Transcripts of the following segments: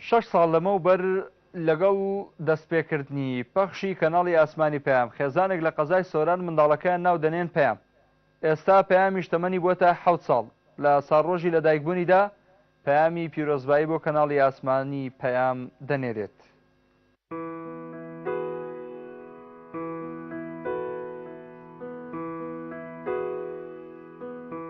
شەش ساڵ لەمەو بەر لەگەڵ دەستپێکردنی پەخشی کەناڵی ئاسمانی پەیام، خێزانێک لە قەزای سۆران منداڵەکەیان ناو دەنێن پەیام. ئێستا پەیامیش تەمەنی بووەتە حەوت ساڵ. لە ساڵڕۆژی لەدایکبوونیدا پەیامی پیرۆزبایی بۆ کەناڵی ئاسمانی پەیام دەنێرێت.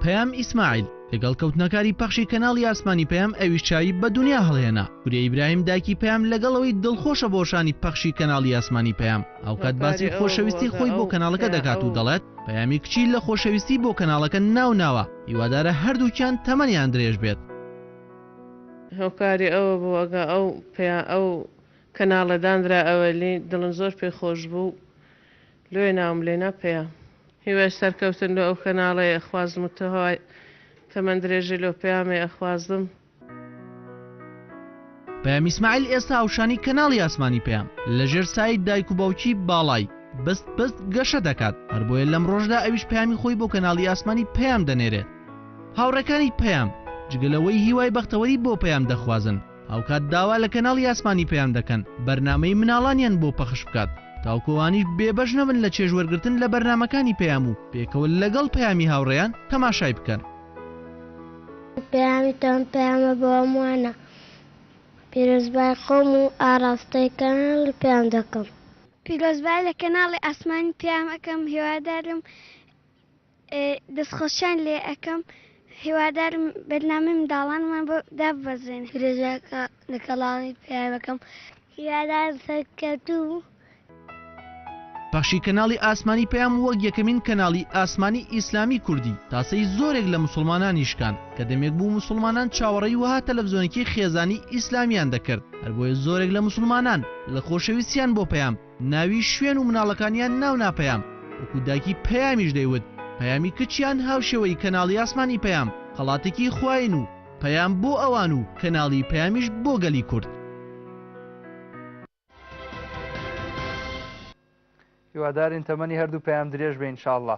پەیام ئیسماعیل لەگەڵ کەوتنەکاری پەخشی کەناڵی ئاسمانی پەیام ئەویش چاوی بە دونیا هەڵهێنا وریا ئیبراهیم دایکی پەیام لەگەڵەوەی دڵخۆشە بۆ شانی پەخشی کەناڵی ئاسمانی پەیام ئەوکات باسی خۆشەویستی خۆی بۆ کەناڵەکە دەکات و دەڵێت پەیامی کچی لە خۆشەویستی بۆ کەناڵەکە ناو ناوە هیوادارە هەردووکیان تەمەنیان درێژ بێت. هۆکاری ئەوە بوو ئەگا ئەو پیا ئەو کەناڵە دانرا ئەوەلی دڵم زۆر پێ خۆش بوو لۆیە ناوم لێنا پیا. هیوای سەرکەوتن لۆ ئەو کەناڵەی ئەخوازم و تهوای تەمەن درێژی لۆ پەیامەی ئەخوازم. پەیام ئیسماعیل ئێستا هاوشانی کەناڵی ئاسمانی پەیام لە ژێر سایەی دایک و باوکی باڵای، بست بست، گەشە دەکات هەر بۆیە لەمڕۆشدا ئەویش پەیامی خۆی بۆ کەناڵی ئاسمانی پەیام دەنێرێت. هاوڕێکانی پەیام جگە لەوەی هیوای بەختەوەری بۆ پەیام دەخوازن، هاوکات داوا لە کەناڵی ئاسمانی پەیام دەکەن بەرنامەی مناڵانیان بۆ پەخش بکات تاوکو ئەوانیش بێبەش نەبن لە چێژ وەرگرتن لە بەرنامەکانی پەیام و پێکەوە لەگەڵ پەیامی هاوڕێیان تەماشای بکەن. پەیامی تۆم پەیامە بۆ هەمووانە پیرۆزبای خۆم و ئاڕاستەی کەناڵی پەیام دەکەم. پیرۆزبای لە کەناڵی ئاسمانی پەیام ئەکەم هیوادارم دەست خۆشیان لێ ئەکەم هیوادارم بەرنامەی منداڵانمان بۆ داببەزێنن درێژە کە لە کەڵانی پەیامەکەم هیوادارم سەرکەوتوو و پەخشی کەناڵی ئاسمانی پەیام وەک یەکەمین کەناڵی ئاسمانی ئیسلامی کوردی تاسەی زۆرێک لە موسڵمانانی شکاند کە دەمێک بوو موسڵمانان چاوەڕێی وەها تەلەفزۆنکی خێزانی ئیسلامیان دەکرد هەربۆیە زۆرێک لە موسڵمانان لە خۆشەویستیان بۆ پەیام ناوی شوێن و مناڵەکانیان ناو نا پەیام وەکو دایکی پەیامیش دەیوت پەیامی کچیان هاوشێوەی کەناڵی ئاسمان ی پەیام خەڵاتێکی خواین و پەیام بۆ ئەوان و کەناڵی پەیامیش بۆ گەلی کورد. هیوادارین تەمەنی هەردوو پەیام درێژ بێ انشااللە.